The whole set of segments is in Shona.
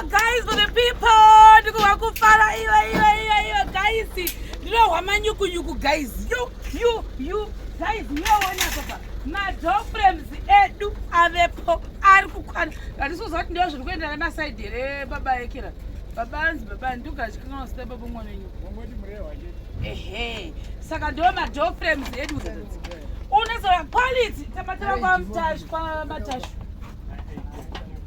Guys for the people ndikuva kufara iwe iwe iwe iwe guys ndinohwa manyukunyuku guys you you you guys yoona papa madoframes edu avepo ari kukwana ndatisoziva kuti ndiwo zviri kuenda nemasaidi here baba ekira baba anzi baba andiugachikanganosita baba mwana wenyu ehe saka ndiwo madoframes edu unozoa quality tamatira kwamatash kwamatash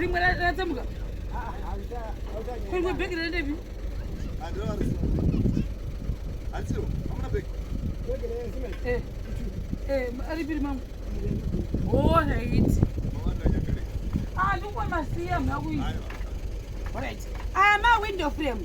rimwe ratsemuka kurikwe bheki rendepi aripiri mamwe o raiti andikwamasiya mhakuii aya mawindow frame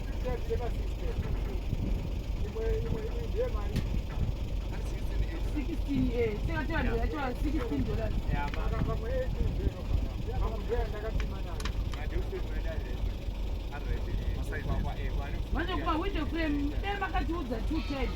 manje kuba window frame dai makatiudza two times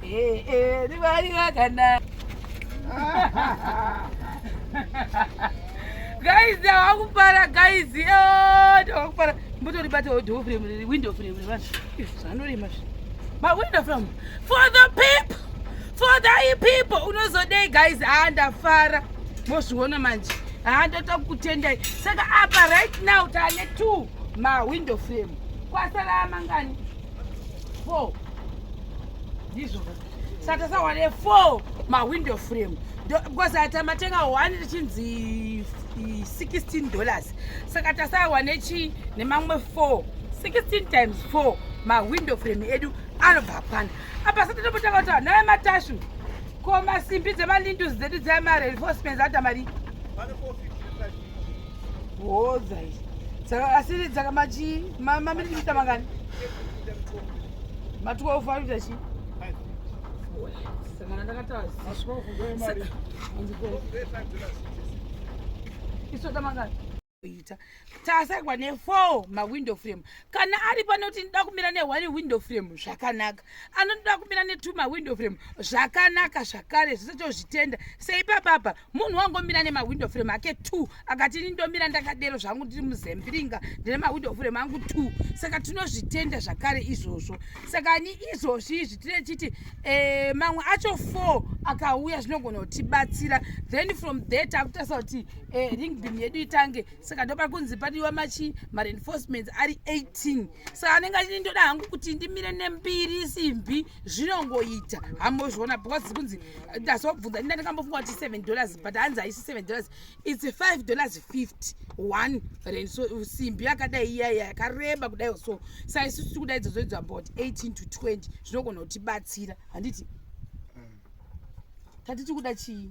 Hey, hey, ndivali vakana. guys ndawakupara guys oh, ndawakupara mbotoribata door frame window frame vanhu zvanorema zvi mawindow frame for the people for the people unozodei guys haa ndafara mozviona manje haa ndoda kukutendai saka apa right now taane two mawindow frame kwasara amangani four ndizvo saka tasawane four mawindow frame because ati amatenga one richinzi 16 dollars saka tasawane chii nemamwe four 16 times four mawindow frame edu anobva kwana apa sa totopotanga kuti naye matashu ko masimbi dzemalindus dzedu dzemareinforcements ata marii Bodza izvi. Saka asi saka machi maminiti kuita mangani? Ma 12 ari kuita chii? Sangana ndakataura. Aswa kugoya mari. Iso tamangani? kuita tasagwa nefour mawindow frame kana ari panoti ndinoda kumira nehone window frame zvakanaka anotoda kumira netwo mawindow frame zvakanaka zvakare zvese tozvitenda seipapapa munhu wangomira nemawindow frame ake two akati ini ndomira ndakadero zvangu ndiri muzembiringa ndine mawindow frame angu two saka tinozvitenda zvakare izvozvo saka ni izvozvi izvi tine chiti eh, mamwe acho four akauya zvinogona kutibatsira then from there takutarisa kuti eh, ring beam yedu itange saka ndopari kunzi padiwa machi mareinforcements ari 18 saka anenge achiti ndoda hangu kuti ndimire nembiri simbi zvinongoita hambozviona because kunzi ndazobvunza inda ndikambofunga kuti seven dollars but hanzi haisi seven dollars its five dollars fifty one rand so simbi yakadai iyaiya yakareba kudai so sa isusu tiri kudai dzozoidzwa about eighteen to twenty zvinogona kutibatsira handiti mm. tatiti kuda chii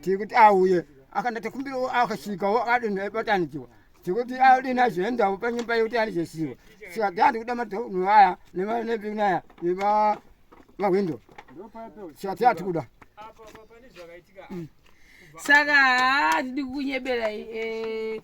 tikuti auye akandatekumbirawo akasvikawo akadini aibatanikiwa tikuti adini azoendawo panyumba yekuti anizosiwa saka tandi kuda madhonu aya nemanepinaya nemahwindo saka tiati kuda saka haa tidi kukunyeberai eh,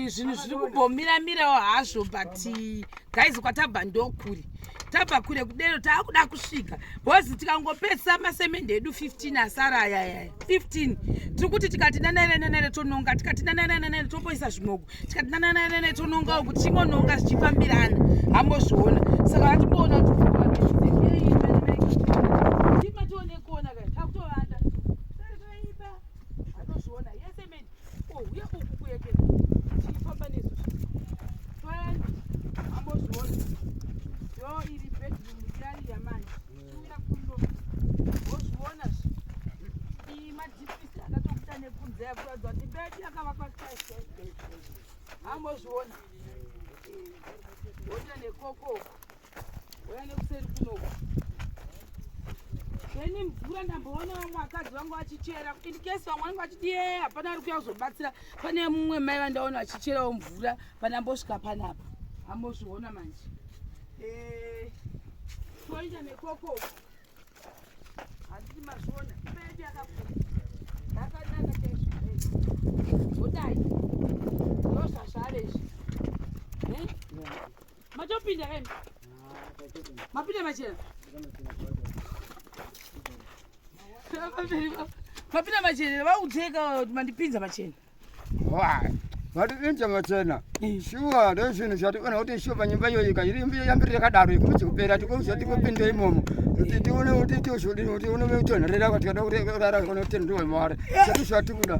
zvinhu zviri kumbomiramirawo hazvo but eh, guys kwatabva ndokuri tabva kure kudero taakuda kusvika bhozi tikangopedzisa masemende edu 15 asara ayayaya 15 tiri kuti tikati nanaerenanere tononga tikati nanaerenanere topoisa zvimoko tikati nanaerenanere tonongawo kuti chingononga zvichifambirana hambozviona saka vatimboona kuti anozviona yese meni ouya oh, uku kuyekeza tichifamba nesu twayani ambozviona yo iri bedroom yari yamanje tiuya kuno wozviona zvi iyi madhipisi akatokuta nekunze yakuratidza kuti bedi yakavakwa saise ambozviona woita nekokoko Uya nekuseri kunoku. Ini mvura ndamboona vamwe vakadzi vangu vachichera in case vamwe vangu vachiti ye hapana ari kuya kuzobatsira pane mumwe mai vandaona vachicherawo mvura pandambosvika panapa ambozviona manje eh, toita nekoko handiti mazviona ipeedu yakakura yakanaka chaizvo zodai ndozvazvave izvi eh? Matopinda kai. Mapinda machena. Mapinda machena vakudzeka mandipinza machena. Why? vati inja machena shuwa ndozvinhu zvationa kuti shuwa panyumba iyoyika iri mbi yambiri yakadaro ikuti kupera tikuuza tikupinda imomo kuti tione kuti tizvodi kuti unotonherera kuti kada kurara kana kuti ndiwe mare zvati zvatikuda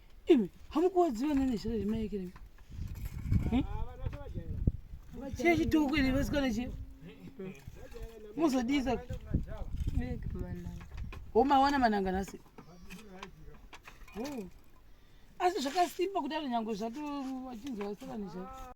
imi hamukuwadziwa nane zvira zvemaekere hmm? chiya chitoko ine vasikana chiya muzodisa homawana mananga nasi asi zvakasimba kudaro nyange zvato vachinzwa vasikana zvato